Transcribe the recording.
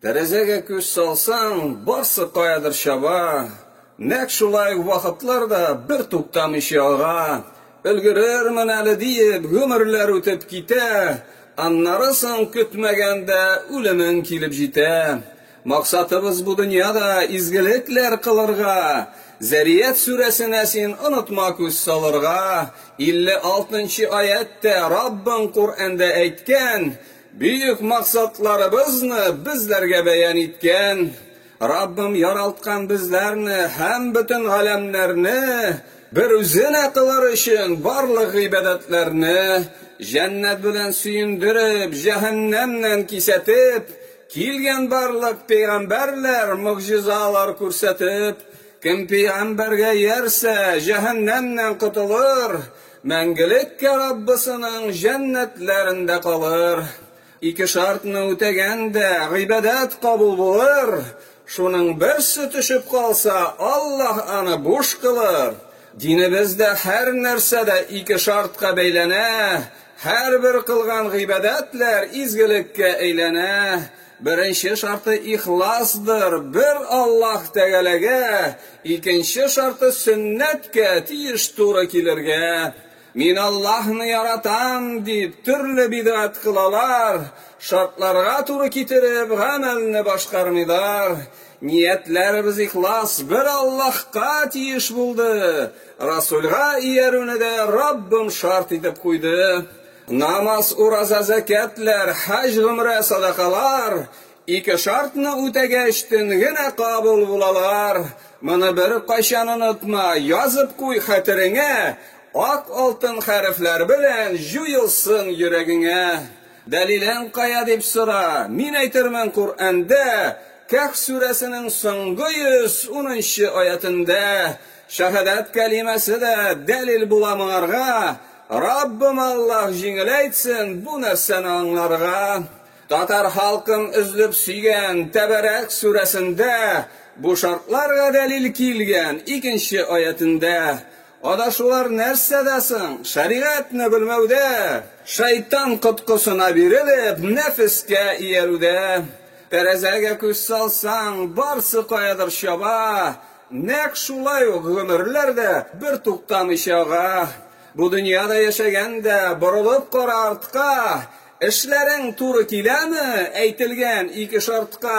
Тәрәзәгә күз салсаң, барсы каядыр чаба. Нәк шулай ук вакытлар да бер туктамыйча ага. Өлгерермен әле диеп, гомерләр үтеп китә. Аннары соң көтмәгәндә үлемең килеп җитә. Максатыбыз бу дөньяда изгелекләр кылырга. Зәрият сүрәсенә син онытма күз салырга. 56 нчы аять тә Раббың Коръәндә әйткән, Бөек максатларыбызны безләргә бәян иткән Раббым яралткан безләрне һәм бөтен галәмнәрне бер үзенә кылыр өчен барлык гыйбадәтләрне җәннәт белән сөендереп, җәһәннәмнән кисәтеп, килгән барлык пәйгамбәрләр могҗизалар күрсәтеп, кем пәйгамбәргә иярсә, җәһәннәмнән котылыр, Мәңгелеккә Раббысының җәннәтләрендә калыр. Ике шартны үтәгәндә, гыйбадәт кабул булыр, шуның берсе төшеп калса, Аллаһ аны буш кылыр. Динебездә һәр нәрсә дә ике шартка бәйләнә, һәрбер кылган гыйбадәтләр изгелеккә әйләнә. Беренче шарты ихласдыр, бер Аллаһ Тәгаләгә, икенче шарты сөннәткә тиеш туры килергә. Мин Аллаһны яратам, дип, төрле бидгать кылалар, шартларга туры китереп, гамәлне башкармыйлар. Ниятләребез ихлас, бер Аллаһка тиеш булды. Расулгә иярүне дә Раббым шарт итеп куйды. Намаз, ураза, зәкятләр, хаҗ, гомрә, садакалар, ике шартны үтәгәч, төн генә кабул булалар. Моны беркайчан онытма, язып куй хәтереңә, ак алтын хәрефләр белән җуелсын йөрәгеңә. Дәлилең кая дип сора, мин әйтермен Коръәндә, Кәһф сүрәсенең соңгы 110 нчы аятендә, Шәһадәт кәлимәсе дә дәлил була моңарга, Раббым Аллаһ җиңеләйтсен бу нәрсәне аңларга. Татар халкым өзлеп сөйгән Тәбәрәк сүрәсендә бу шартларга дәлил килгән икенче аятендә. Адашулар нәрсәдә соң? Шәригатьне белмәүдә! Шайтан коткысына бирелеп, нәфескә иярүдә! Тәрәзәгә күз салсаң, барсы каядыр чаба! Нәкъ шулай ук гомерләр дә бер туктамыйча ага. Бу дөньяда яшәгәндә борылып кара артка, Эшләрең туры киләме әйтелгән ике шартка?